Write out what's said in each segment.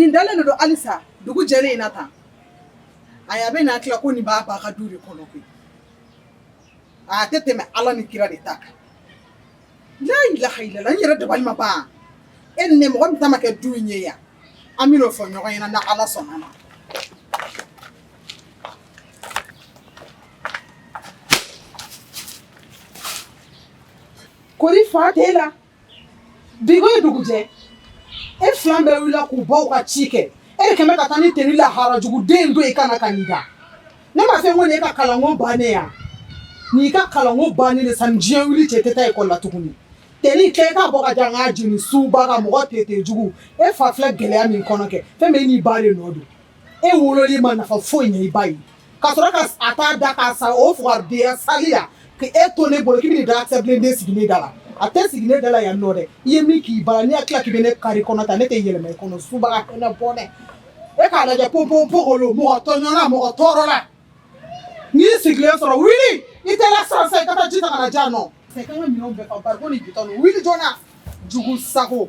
Nin dalen de don halisa dugu jɛlen in na tan ayi a bɛ nin hakili la ko nin b'a ba ka du de kɔnɔ koyi a tɛ tɛmɛ ala ni kira de ta kan la ilaha ilala n yɛrɛ dabali ma ban e ni ne mɔgɔ min ta ma kɛ du in ye yan an bɛn'o fɔ ɲɔgɔn ɲɛna n'ala sɔnna ma Kori fa tɛ la bigo ye dugujɛ e filan bɛɛ wilila k'u baw ka ci kɛ e kɛmɛ ka taa ni teni lahara jugu den don i kana ka da ne ma fɛn ko ne ka kalanko bannen yan n'i ka kalanko bannen de sani diɲɛ wili cɛ tɛ taa ekɔli la tuguni teni kɛ k'a bɔ ka jan k'a jeni subaga mɔgɔ tere jugu e fa filɛ gɛlɛya min kɔnɔ kɛ fɛn bɛɛ i n'i ba de nɔ don E wololi ma nafa foyi ɲɛ i ba ye ka sɔrɔ ka a t'a da k'a sa o fugariya sali la k' e to ne bolo k'i da den sigi ne da la a tɛ sigi ne da la yan nɔ dɛ i ye min k'i ba la n'i hakili la k'i bɛ ne kari kɔnɔ ta ne tɛ yɛlɛma i kɔnɔ suba kɔnɔ bɔn dɛ e k'a lajɛ ko bon mɔgɔ mɔgɔ tɔɔrɔ la n'i sigilen sɔrɔ wuli i tɛ sisan sisan i ka ji ka jan nɔ wuli joona jugu sago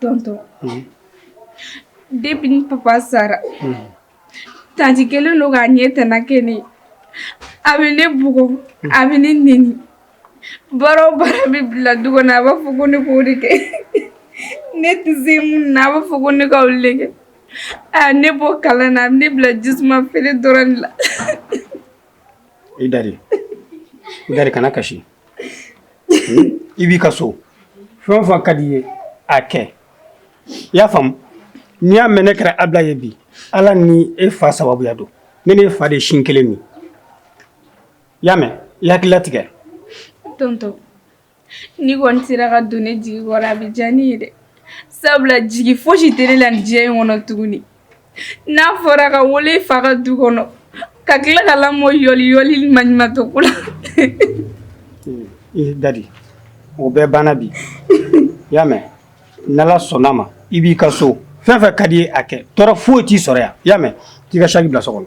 Tonton depuis ni papa sara tanti kelen don k'a ɲɛ tɛna kɛ ne ye a bɛ ne bugɔ a bɛ ne nɛni baara o baara bɛ bila du kɔnɔ a b'a fɔ ko ne k'o de kɛ ne tɛ se minnu na a b'a fɔ ko ne ka olu de kɛ a ye ne bɔ kalan na ne bila jisuma feere dɔrɔn la i da de i da de kana kasi i b'i ka so fɛn o fɛn ka di i ye a kɛ i y'a faamu n'i y'a mɛn ne kɛra abila ye bi ala ni e fa sababuya don ne ni e fa de sin kelen min i y'a mɛn i hakili latigɛ tonton n'i kɔni sera ka don ne jigi kɔrɔ a bɛ diya ne ye dɛ sabula jigi fosi tɛ ne la nin diɲɛ in kɔnɔ tuguni n'a fɔra ka wolo i fa ka du kɔnɔ ka tila ka lamɔ yɔli yɔli ni maɲumatɔko la i da de o bɛɛ banna bi i y'a mɛn n'ala sɔnna ma i b'i ka so fɛn fɛn ka d'i ye a kɛ tɔɔrɔ foyi t'i sɔrɔ yan i y'a mɛn t'i ka saki bila so kɔnɔ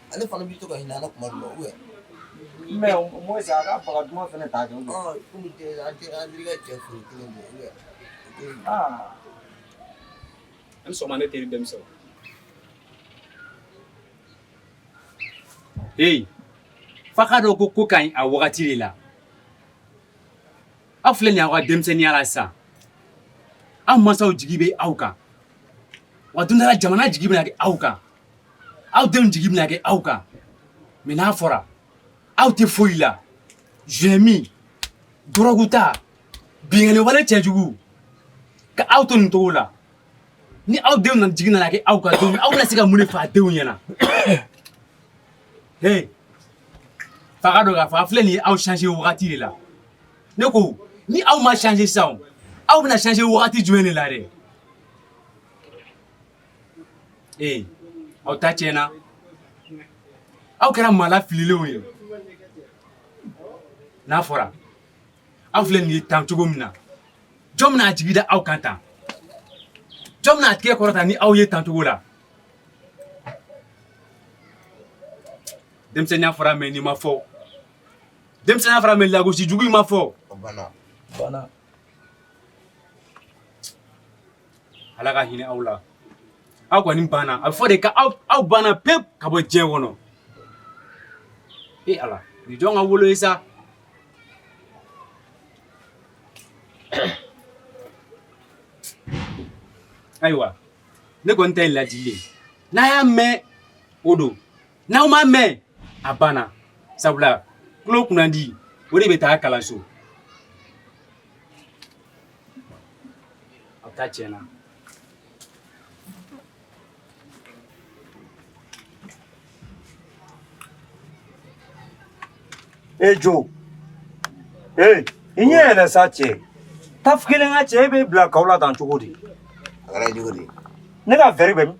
ale fana bɛ to ka hinɛ kuma dɔn o yan mɛ mɔ se a ka baga duman fana ta kɛ kɔmi an tɛ an ka cɛ furu kelen bɔ yan an sɔnna ne teri denmisɛnw ee f'a k'a dɔn ko ko ka ɲi a wagati de la aw filɛ nin ye aw ka denmisɛnninya la sisan aw mansaw jigi bɛ aw kan wa don dɔ la jamana jigi bɛna kɛ aw kan aw denw jigi bɛna kɛ aw kan mɛ n'a fɔra aw tɛ foyi la zemi dɔrɔguta binkanni wale cɛjugu ka aw to nin cogo la ni aw denw nana jigi nana kɛ aw kan don min aw bɛna se ka mun de fɔ a denw ɲɛna he f'a k'a dɔn k'a fɔ a filɛ nin ye aw changer wagati de la ne ko ni aw ma changer sisan aw bɛna changer wagati jumɛn de la dɛ ee aw ta tiɲɛna aw kɛra maa lafililenw ye n'a fɔra aw filɛ nin ye tan cogo min na jɔn bɛna a jigi da aw kan tan jɔn bɛna a tigɛ kɔrɔta ni aw ye tan cogo la denmisɛnninya fɔra mɛ nin ma fɔ denmisɛnninya fɔra mɛ lagosi jugu in ma fɔ ala ka hinɛ aw la aw kɔni banna a bɛ fɔ de ka aw banna pewu ka bɔ diɲɛ kɔnɔ e ala nin jɔn ka wolo ye sa ayiwa ne kɔni ta ye ladili ye n'a y'a mɛn o don N'aw m'a mɛn a banna sabula tulo kunnandi o de bɛ taa kalanso a ta tiɲɛna e jo ee i ɲɛ yɛlɛ sa cɛ taf kelen ka cɛ e bɛ bila kao la tan cogo di a kɛra cogo di ne ka vɛri bɛ min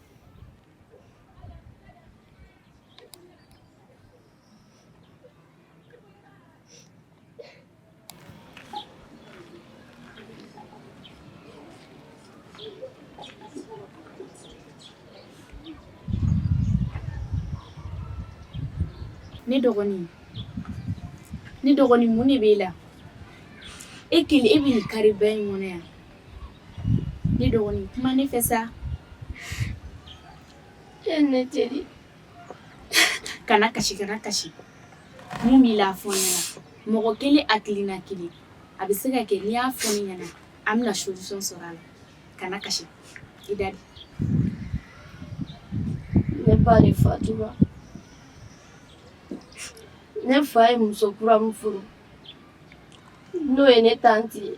ne dɔgɔnin ne dɔgɔnin mun de b'e la e kelen e bɛ nin kari bɛɛ in kɔnɔ yan Ne dɔgɔnin kuma ne fɛ sa e ne teri kana kasi kana kasi mun b'i la fɔ n ɲɛna mɔgɔ kelen hakilina kelen a bɛ se ka kɛ n'i y'a fɔ ne ɲɛna an bɛna solution sɔrɔ a la kana kasi i da de ne ba de fatura ne fa ye muso kura min furu n'o ye ne tanti ye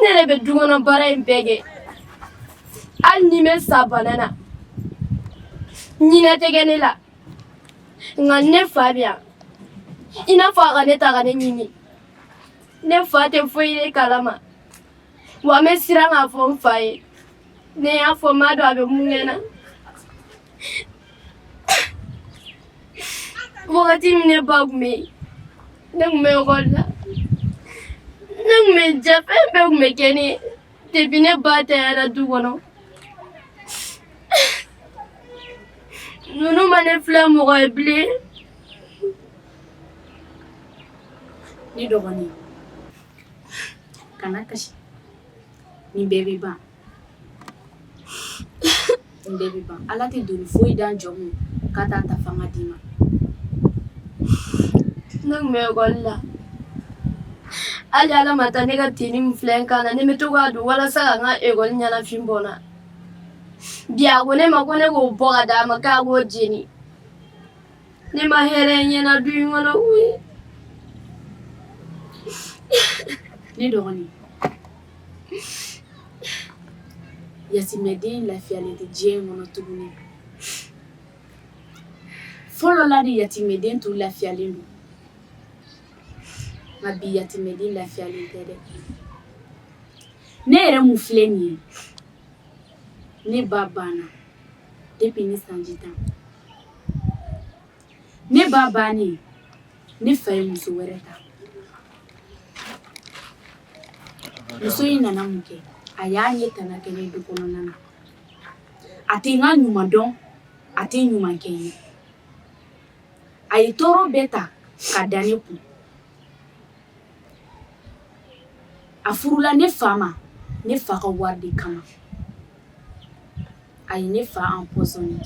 ne yɛrɛ bɛ du kɔnɔ baara in bɛɛ kɛ hali ni n bɛ sa bana na hinɛ tɛ kɛ ne la nka ni ne fa bɛ yan i n'a fɔ a ka ne ta ka ne ɲini ne fa tɛ foyi yɛrɛ kalama wa n bɛ siran k'a fɔ n fa ye ne y'a fɔ n m'a dɔn a bɛ mun kɛ n na Wakati min ne ba kun bɛ yen ne kun bɛ ekɔli la ne kun bɛ jɛ fɛn bɛɛ kun bɛ kɛ ne ye depuis ne ba tanyara du kɔnɔ ninnu ma ne filɛ mɔgɔ ye bilen ne dɔgɔnin kana kasi nin bɛɛ bɛ ban Ala tɛ doni foyi da jɔn kun k'a t'a ta fanga d'i ma ne kun bɛ ekɔli la hali ala ma taa ne ka tenue min filɛ n kan na ne bɛ to k'a don walasa ka n ka ekɔli ɲɛnafin bɔ n na bi a ko ne ma ko ne k'o bɔ ka d'a ma k'a k'o jeni ne ma hɛrɛ ye n ɲɛ na du in kɔnɔ koyi ne dɔgɔnin Yatimɛden lafiyalen tɛ diɲɛ in kɔnɔ tuguni. Fɔlɔ la de yatimɛden tun lafiyalen don nka bi yatimɛden lafiyalen tɛ dɛ! Ne yɛrɛ min filɛ nin ye, ne ba banna depuis ne sanji tan. ne ba bannen ne fa ye muso wɛrɛ ta muso in nana mun kɛ a y'a ɲɛ tana kɛ ne du kɔnɔna na a tɛ n ka ɲuman dɔn a tɛ ɲuman kɛ n ye a ye tɔɔrɔ bɛɛ ta ka da ne kun a furula ne fa ma ne fa ka wari de kama a ye ne fa empoisonné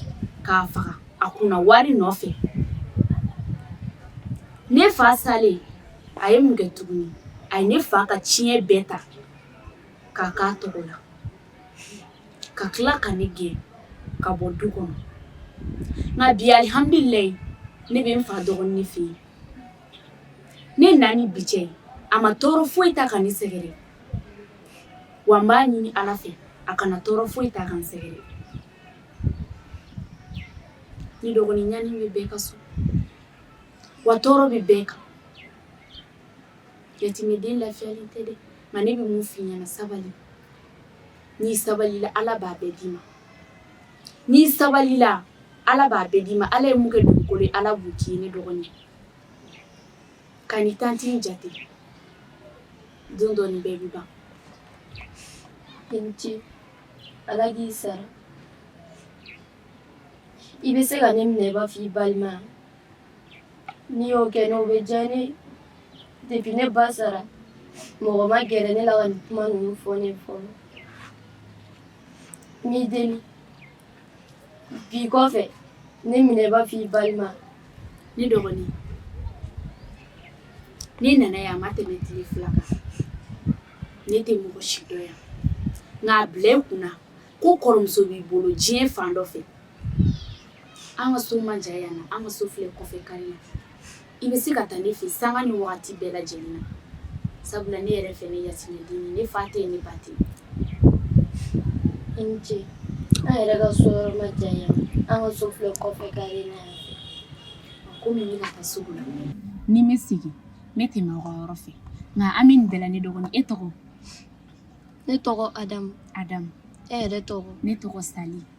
k'a faga a kunna wari nɔfɛ ne fa salen a ye mun kɛ tuguni a ye ne fa ka ciɲɛ bɛɛ ta k'a k'a tɔgɔ la ka tila ka ne gɛn ka bɔ du kɔnɔ nka bi alihamdulilayi ne bɛ n fa dɔgɔnin fɛ yen ne na ni bi cɛ a ma tɔɔrɔ foyi ta ka ne sɛgɛrɛ wa n b'a ɲini ala fɛ a kana tɔɔrɔ foyi ta ka n sɛgɛrɛ ne dɔgɔnin ɲani bɛ bɛɛ ka so wa tɔɔrɔ bɛ bɛɛ kan yatimɛden lafiyalen tɛ dɛ nka ne bɛ mun f'i ɲɛna sabali n'i sabalila ala b'a bɛɛ d'i ma n'i sabalila ala b'a bɛɛ d'i ma ala ye mun kɛ dugukolo ye ala b'o k'i ye ne dɔgɔnin kan'i tanti in jate Don dɔ nin bɛɛ bɛ ban i ni ce ala k'i sara i bɛ se ka ne minɛ i b'a fɔ i balima n'i y'o kɛ n'o bɛ diya ne ye depuis ne ba sara mɔgɔ ma gɛrɛ ne la ka nin kuma ninnu fɔ ne fɔlɔ n b'i deli bi kɔfɛ ne minɛ i b'a fɔ i balima ne dɔgɔnin ne nana yan a ma tɛmɛ tile fila kan ne tɛ mɔgɔ si dɔn yan nka a bila i kunna ko kɔrɔmuso b'i bolo diɲɛ fan dɔ fɛ an ka so man jan yan na an ka so filɛ kɔfɛ kari la i bɛ se ka taa ne fɛ sanga ni wagati bɛɛ lajɛlen na sabula ne yɛrɛ fɛnɛ yatimɛden ye ne fa tɛ yen ne ba tɛ i ni ce an yɛrɛ ka so yɔrɔ man jan yan an ka so filɛ kɔfɛ kari la komi ne bɛ ka taa sugu la ni n bɛ segin ne bɛ tɛmɛ aw ka yɔrɔ fɛ nka an bɛ nin bɛɛ la ne dɔgɔnin e tɔgɔ ne tɔgɔ adamu adamu e yɛrɛ tɔgɔ ne tɔgɔ sali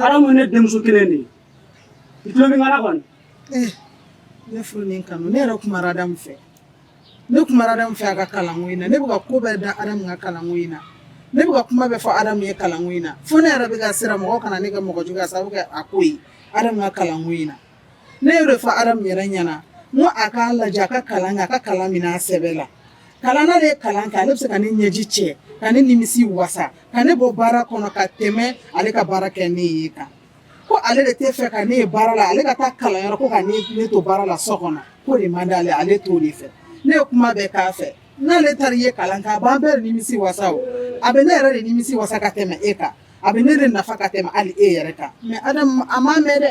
adamu ye ne denmuso kelen de ye i tulo bɛ n kan na kɔni eh, ne furu ni kanu ne yɛrɛ kumara adamu fɛ ne kumara adamu fɛ a ka kalanko in na ne bɛ ka ko bɛɛ da adamu ka kalanko in na ne bɛ ka kuma bɛɛ fɔ adamu ye kalanko in na fo ne yɛrɛ bɛ ka siran mɔgɔ kana ne kɛ mɔgɔ jugu ye a sababu kɛ a ko ye adamu ka kalanko in na ne y'o de fɔ Adamu yɛrɛ ɲɛna n ko a k'a lajɛ a ka kalan kɛ a ka kalan minɛ a sɛbɛ la kalan n'ale ye kalan kɛ ale bɛ se ka ne ɲɛji cɛ ka ne nimisi wasa ka ne bɔ baara kɔnɔ ka tɛmɛ ale ka baara kɛ ne ye kan ko ale de t'a fɛ ka ne ye baara la ale ka taa kalanyɔrɔ ko ka ne ne to baara la so kɔnɔ k'o de man d'ale ale t'o de fɛ ne ye kuma bɛɛ k'a fɛ n'ale taara i ye kalan kɛ a b'an bɛɛ de nimisi wasa o a bɛ ne yɛrɛ de nimisi wasa ka tɛmɛ e kan a bɛ ne de nafa ka tɛmɛ hali e yɛrɛ kan mais Adamu a m'a mɛn dɛ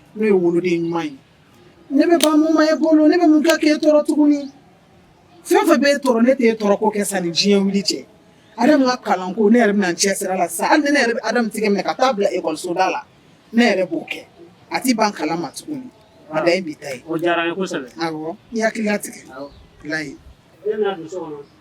n'o ye woloden ɲuman ye ne bɛ ban mun ma e bolo ne bɛ mun kɛ k'e tɔɔrɔ tuguni fɛn o fɛn b'e tɔɔrɔ ne t'e tɔɔrɔ ko kɛ sanni diɲɛ wuli cɛ Adamu ka kalanko ne yɛrɛ bɛna n cɛsiri a la sisan hali ni ne yɛrɛ bɛ Adamu tigɛ minɛ ka taa bila ekɔliso da la ne yɛrɛ b'o kɛ a t'i ban kalan ma tuguni a dan ye bi ta ye o diyara n ye kosɛbɛ awɔ i hakili latigɛ awɔ walayi den bɛna don so kɔnɔ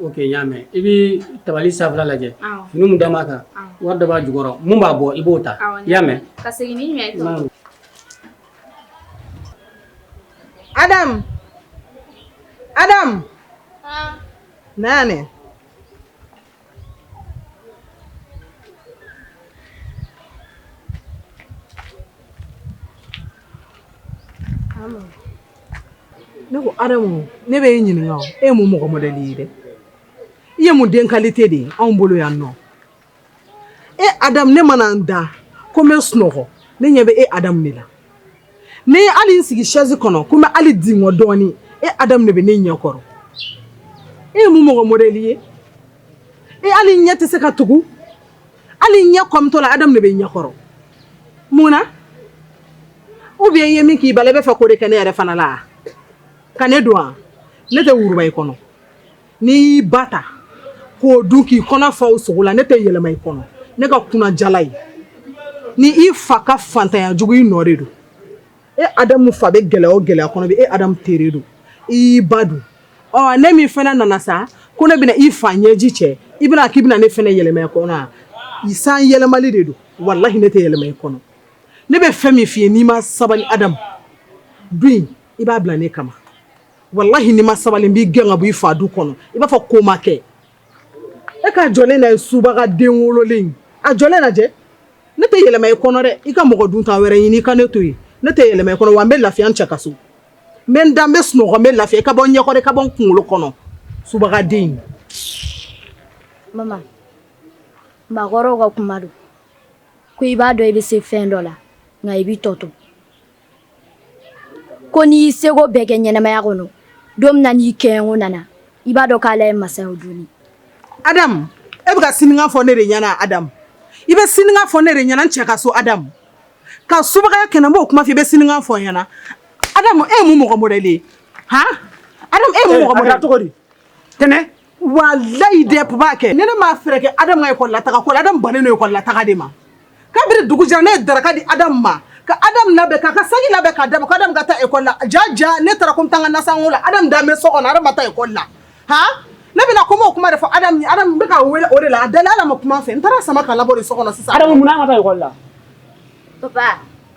Ok n y'a mɛn i bɛ tabali sanfɛla lajɛ fini min da b'a kan wari dɔ b'a jukɔrɔ min b'a bɔ i b'o ta i y'a mɛn Ne ko adamu ne bɛ e ɲininka e ye mun mɔgɔ modèle ye dɛ i ye mun den qualité de ye anw bolo yan nɔ e adamu ne mana n da ko n bɛ sunɔgɔ ne ɲɛ bɛ e adamu de la ne ye hali n sigi sɛsi kɔnɔ ko n bɛ hali dingɔ dɔɔnin e adamu de bɛ ne ɲɛkɔrɔ e ye mun mɔgɔ modèle ye e hali n ɲɛ tɛ se ka tugu hali n ɲɛ kɔmitɔ la adamu de bɛ ɲɛkɔrɔ mun na ou bien i ye min k'i ba la i bɛ fɛ k'o de kɛ ne yɛrɛ fana la ka ne dun wa ne tɛ wuruba i kɔnɔ N'i y'i ba ta k'o dun k'i kɔnɔ fa o sogo la ne tɛ yɛlɛma i kɔnɔ ne ka kunjala ye ni i fa ka faantanya jugu i nɔ de don e adamu fa bɛ gɛlɛya o gɛlɛya kɔnɔ bi e adamu tere don i y'i ba dun ɔ ne min fana nana sa ko ne bɛna i fa ɲɛji cɛ i bɛna k'i bɛna ne fana yɛlɛma i kɔnɔ i san yɛlɛma de don walahi ne tɛ yɛlɛma i kɔnɔ ne bɛ fɛn min f'i ye n'i ma sabali adamu dun i b'a bila ne kama walahi n'i ma sabali n b'i gɛn ka bɔ i fa du kɔnɔ i b'a fɔ ko ma kɛ e k'a jɔlen ye subaga den wololen a jɔlen lajɛ ne tɛ yɛlɛma i kɔnɔ dɛ i ka mɔgɔ dunta wɛrɛ ɲini i ka ne to yen ne tɛ yɛlɛma i kɔnɔ wa n bɛ lafiya n cɛ ka so n bɛ n da n bɛ sunɔgɔ n bɛ lafiya i ka bɔ n ɲɛkɔrɔ i ka bɔ n kunkolo kɔnɔ subaga den mama makɔrɔw ka kuma don ko i b'a dɔn i bɛ se fɛn dɔ la nka i bɛ tɔ to Ko n'i y'i seko bɛɛ kɛ ɲɛnamaya kɔnɔ don min na n'i kɛɲɛko nana i b'a dɔn k'ala ye masa ye o don adamu e bɛ ka siniŋa fɔ ne de ɲɛna adamu i bɛ siniŋa fɔ ne de ɲɛna n cɛ ka so adamu ka subagaya kɛ ne b'o kuma fɔ i bɛ siniŋa fɔ n ɲɛna adamu e ye mun mɔgɔ modèle ye han adamu e ye mun mɔgɔ modèle cogo di tɛnɛ Wa layi de tun b'a kɛ ne ne maa fɛɛrɛ kɛ adama ye kɔlɔn lata ko ala bannen ye kɔlɔn lata de ma kabini dugu jɛra ne ye daraka di adama ma ka adama labɛn ka ka segin labɛn ka da ka taa e kɔ la ja ja ne taara ko tan ka na san la ala da so kɔnɔ ala taa e kɔ la h ne bɛna ko o kuma de fɔ bɛ ka weele o de la a dala ala ma kuma fɛ n taara sama ka la so kɔnɔ sisan la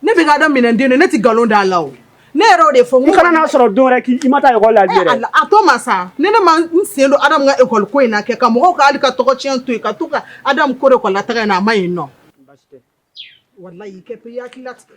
Ne bɛ ka adamu minɛn den ne tɛ nkalon d'a la ne yɛrɛ y'o de fɔ n kana y'a sɔrɔ dɔw k' i ma taa ekɔli la a to ma sa ne ne ma n sen don adamu ka ekɔli ko in na kɛ ka mɔgɔw k'ale ka tɔgɔ tiɲɛ to yen ka to ka adamu ko de ekɔli la taga n' a ma yen nɔ walayi i kɛ i y'i hakili latigɛ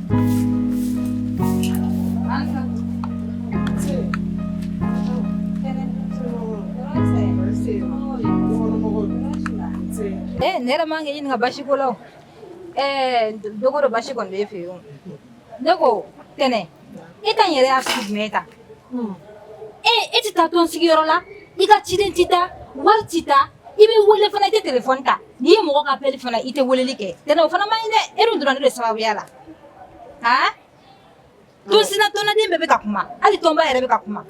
Eh, ne yɛrɛ man k'i ɲininka basi ko la o eh, don o don basi kɔni b'e fɛ yen o ne ko tɛnɛ e ta in yɛrɛ y'a sugu jumɛn ye tan ee e tɛ taa tɔn sigiyɔrɔ la i ka ciden tɛ taa wari tɛ taa i bɛ wele fana i tɛ telefɔni ta n'i ye mɔgɔ ka appel ye fana i tɛ weleli kɛ tɛnɛ o fana man ɲi dɛ e dun donna ne de sababuya la aa tɔnsina tɔnnaden bɛɛ bɛ ka kuma hali tɔnba yɛrɛ bɛ ka kuma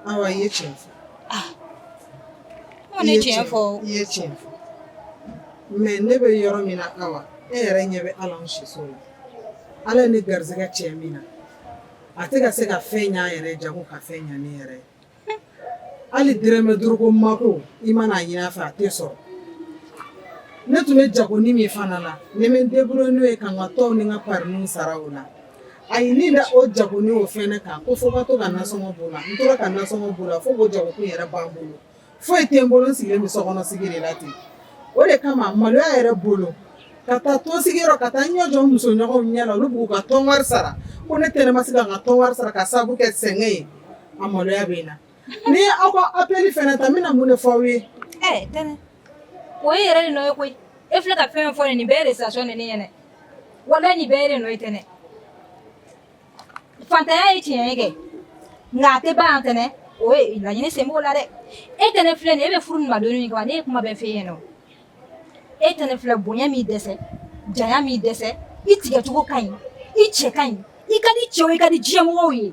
Awa ye tiɲɛ fɔ. Ah. Awa ne tiɲɛ fɔ o. I ye tiɲɛ fɔ. Mais ne bɛ yɔrɔ min na Awa, e yɛrɛ ɲɛ bɛ hali anw siso la. Ala ye ne garisigɛ cɛ min na, a tɛ ka se ka fɛn ɲɛ a yɛrɛ ye janko ka fɛn ɲɛ ne yɛrɛ ye. Hali dɔrɔmɛ duuru ko mako i mana a ɲini a fɛ a tɛ sɔrɔ. Ne tun bɛ jagonin min fana na, ne bɛ n débrouiller n'o ye ka n ka tɔnw ni n ka parininw sara o la A ye ne da o jagonin o fɛnɛ kan ko fo ka to ka nasɔngɔ bɔ o la n tora ka nasɔngɔ bɔ o la fo k'o jago kun yɛrɛ ban n bolo foyi tɛ n bolo n sigilen bɛ so kɔnɔ sigi de la ten o de kama maloya yɛrɛ bolo ka taa tɔn sigiyɔrɔ ka taa n ɲɛ jɔ musoɲɔgɔnw ɲɛ la olu b'u ka tɔn wari sara ko ne tɛnɛ ma se ka n ka tɔn wari sara ka sababu kɛ sɛgɛn ye a maloya bɛ n na Ni n ye aw ka appel fana ta n bɛna mun de fɔ aw ye? Ɛɛ tɛnɛ o ye e yɛrɛ de nɔ ye koyi e filɛ ka fɛn o fɛn fɔ nin ye nin bɛɛ ye recitation de ye ne ɲɛna walayi nin bɛɛ y'e de nɔ ye tɛnɛ fantanya ye tiɲɛ ye kɛ nka a tɛ ban yan tɛnɛ o ye laɲini sen b'o la dɛ e tɛnɛ filɛ nin ye e bɛ furu nin ma donni min kama ne ye kuma bɛɛ f'e ɲɛna o e tɛnɛ filɛ bonya m'i dɛsɛ janya m'i dɛsɛ i tigɛcogo ka ɲi i cɛ ka ɲi i ka di cɛw ye i ka di diɲɛmɔgɔw ye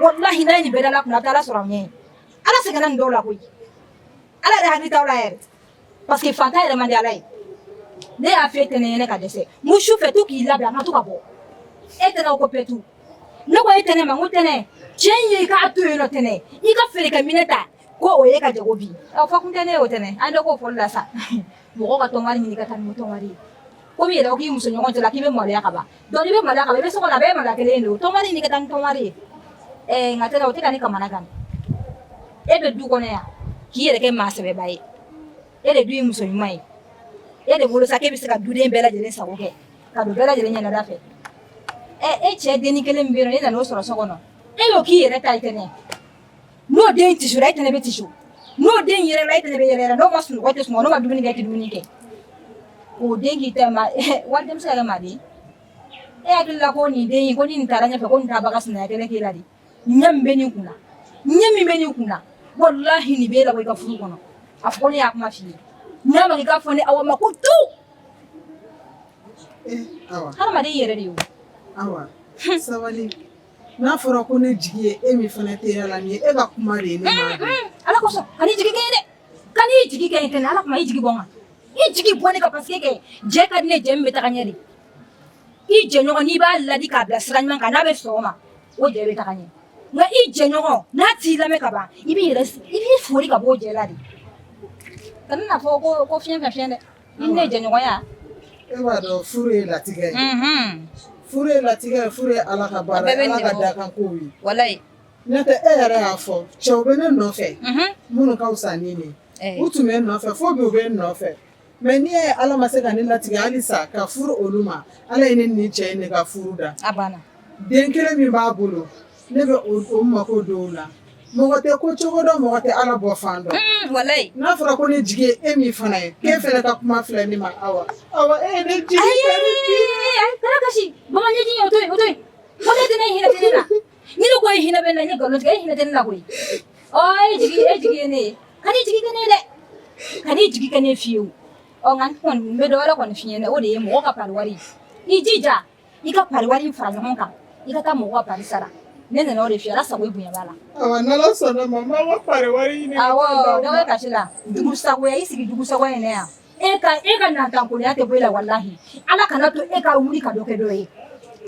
Walayi n'a ye nin bɛɛ da ala kun a tɛ ala sɔrɔ a ɲɛ ala sɛgɛnna nin dɔw la koyi ala yɛrɛ hakili t'aw la yɛrɛ parce que fantan yɛrɛ man di ala ye ne y'a fɔ e tɛnɛn ɲɛna ka dɛsɛ mu su fɛ to k'i labɛn an bɛ to ka bɔ e tɛnɛn ko petu ne ko e tɛnɛn ma n ko tɛnɛn cɛ in ye k'a to yen tɛnɛn i ka fori ka minɛn ta ko o ye ka jago bi a fɔ kun tɛ ne ye o tɛnɛ an bɛɛ k'o fɔli la sa mɔgɔ ka tɔnwari ɲini ka taa ni tɔnwari ye komi yɛrɛ ko k'i muso ɲɔgɔn cɛla k'i bɛ maloya ka ban dɔnki n'i bɛ maloya ka ban i bɛ so kɔnɔ a bɛɛ ye maloya kelen ye dɛ o tɔnwari ɲini ka taa ni tɔnwari ye ɛɛ nka tɛnɛ o tɛ ka ne kamana gan e bɛ du kɔnɔ yan k'i yɛrɛ kɛ maa sɛbɛba ye e de dun ye muso ɲuman ye e de bolo sa k'e bɛ se ka duden bɛɛ lajɛlen sago kɛ ka don bɛɛ lajɛlen ɲɛnada fɛ ɛ e cɛ denni kelen min bɛ yen nɔ e nan'o sɔrɔ so kɔnɔ e y'o k'i yɛrɛ ta ye tɛnɛ n'o den tisora e tɛnɛ bɛ tiso n'o den yɛrɛla e tɛnɛ bɛ yɛrɛ n'o ma sunɔgɔ e tɛ sunɔgɔ n'o ma dumuni kɛ e tɛ dumuni kɛ o den k'i ta waliden bɛ se ka kɛ maa den e hakili la ko nin den ko ni nin taara ɲɛfɛ ko nin t'a ba ka sinaya kɛlɛ k'i la de ɲɛ min bɛ nin kun na ɲɛ min bɛ nin kun na walahi nin b'e labɔ i ka furu kɔnɔ a fɔ ko ne y'a kuma f'i ye n'a ma k'i k'a fɔ ne awa ma ko tu hadamaden yɛrɛ de ye o sabali n'a fɔra ko ne jigi ye e min fana tɛ la nin ye e ka kuma de ye ne ma ala kosɔn kan'i jigi kɛ n ye dɛ kan'i jigi kɛ n ye ala kama i jigi bɔ n kan i jigi bɔ ne kan paseke kɛ jɛ ka di ne jɛ min bɛ taga ɲɛ de i jɛɲɔgɔn n'i b'a ladi k'a bila sira ɲuman kan n'a bɛ sɔn o ma o jɛ bɛ taga ɲɛ nka i jɛɲɔgɔn n'a t'i lamɛn ka ban i b'i fori ka bɔ o jɛ la de kana na fɔ ko ko fiɲɛ fɛ fiɲɛ dɛ I ni ne jɛɲɔgɔnya e b'a dɔn furu ye latigɛ ye furu ye latigɛ ye furu ye ala ka baara ye ala ka dakan kow ye walahi n'o tɛ e yɛrɛ y'a fɔ cɛw bɛ ne nɔfɛ minnu ka fisa ni nin u tun bɛ n nɔfɛ fo bi u bɛ n nɔfɛ mɛ n'i y'a ye ala ma se ka ne latigɛ hali sa ka furu olu ma ala ye ne ni cɛ nin ka furu da den kelen min b'a bolo Ne bɛ o mako dɔw la mɔgɔ tɛ ko cogo dɔ mɔgɔ tɛ ala bɔ fan dɔn n'a fɔra ko ne jigi ye e min fana ye e fɛ ka kuma filɛ ne ma aw jigin ne fiye bɛ dɔw kɔni fiɲɛɲɛna o de ye mɔgɔ ka wari i jija i ka pari wari fara ɲɔgɔn kan i ka taa mɔgɔ ka pari sara ne nana o de f'i ye ala sago i bonya b'a la awa n'ala sɔnna ma n b'a ka pari wari ɲini awɔ dɔ bɛ kasi la dugusago i sigi dugusago in na yan e ka e ka nantankolonya tɛ bɔ i la walahi ala kana to e ka wuli ka dɔ kɛ dɔ ye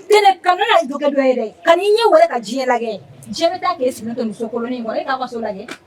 tɛnɛ kana na dɔ kɛ dɔ ye dɛ kan'i ɲɛ wɛrɛ ka diɲɛ lajɛ diɲɛ bɛ taa k'e sigilen to nin so kolonin kɔrɔ e k'a ka so lajɛ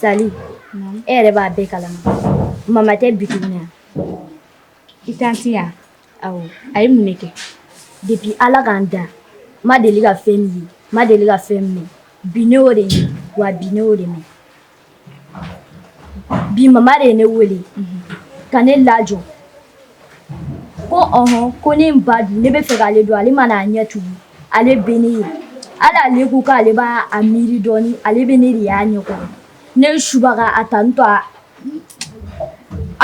Sali e yɛrɛ b'a bɛɛ kalama mama tɛ bi yan i tanti yan awɔ a ye mun kɛ depi ala ka n da n ma deli ka fɛn min ye n ma deli ka fɛn min mɛn bi ne y'o de ye wa bi ne y'o de mɛn bi mama de ye ne wele ka ne lajɔ ko ɔhɔn ko ne b'a dun ne bɛ fɛ k'ale dun ale mana a ɲɛ tugu ale bɛ ne ye hali ale ko k'ale b'a a miiri dɔɔni ale bɛ ne de y'a ɲɛ kɔrɔ ne subaga a tantɔ a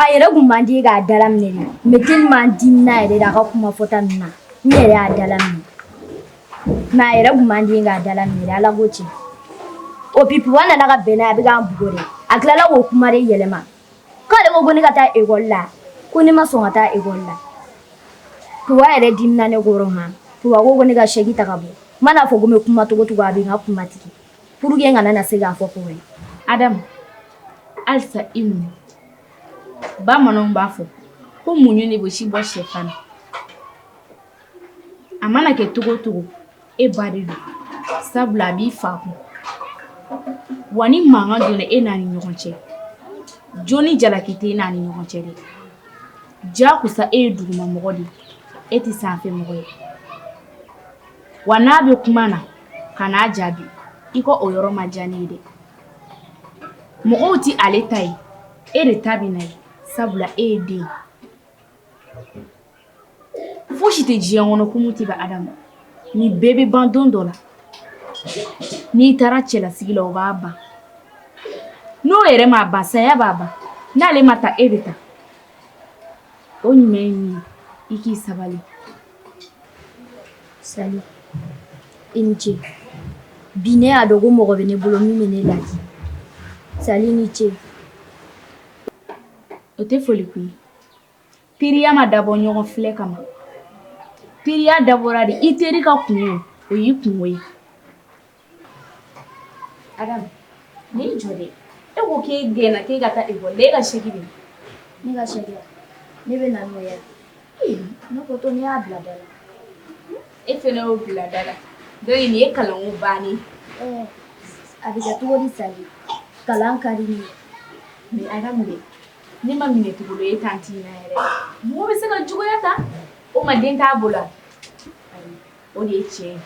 a yɛrɛ kun man di k'a dala minɛ de mais tellement dimina yɛrɛ de a ka kuma fɔta ninnu na ne yɛrɛ y'a dala minɛ mais a yɛrɛ kun man di k'a dala minɛ de ala ko tiɲɛ o Buwa nana ka bɛn n'a ye a bɛ ka n bugɔ de a tilala k'o kuma de yɛlɛma k'ale ko ko ne ka taa ekɔli la ko ne ma sɔn ka taa ekɔli la Buwa yɛrɛ dimina ne kɔrɔ han Buwa ko ko ne ka saki ta ka bɔ n mana fɔ ko n bɛ kuma cogo cogo a bɛ n ka kuma tigɛ pour que n kana na se k'a fɔ Buwa ye Adamu halisa i muɲu bamananw b'a fɔ ko muɲu de bɛ si bɔ sɛfan na a mana kɛ cogo cogo e ba de don sabula a b'i fa kun wa ni mankan donna e n'a ni ɲɔgɔn cɛ jo ni jalaki tɛ e n'a ni ɲɔgɔn cɛ dɛ janko sa e ye duguma mɔgɔ de ye e tɛ sanfɛ mɔgɔ ye wa n'a bɛ kuma na kan'a jaabi i ka o yɔrɔ ma diya ne ye dɛ mɔgɔw tɛ ale ta ye e de ta bɛ na ye sabula e ye den ye Fosi tɛ diɲɛ kɔnɔ ko min tɛ ban Adamu nin bɛɛ bɛ ban don dɔ la n'i taara cɛlasigi la o b'a ban n'o yɛrɛ m'a ban saya b'a ban n'ale ma taa e bɛ taa o ɲuman ye min ye i k'i sabali Sali i ni ce bi ne y'a dɔn ko mɔgɔ bɛ ne bolo min bɛ ne laadi Sali i ni ce o tɛ foli kun ye teriya ma dabɔ ɲɔgɔn filɛ kama teriya dabɔra de i teri ka kun ye o y'i kunko ye Adamu i jɔ dɛ e ko k'e gɛnna k'e ka taa école la e ka saki dun ne ka saki a ne bɛ na n'o ye ne ko to ne y'a bila da la e fana y'o bila da la donc nin ye kalanko bannen ɛɛ a bɛ kɛ cogo di Sali kalan ka di ne ye mais Adamu dɛ Ne ma minɛ cogo dɔn e tanti na yɛrɛ mɔgɔ bɛ se ka juguya ta o ma den t'a bolo o de ye tiɲɛ ye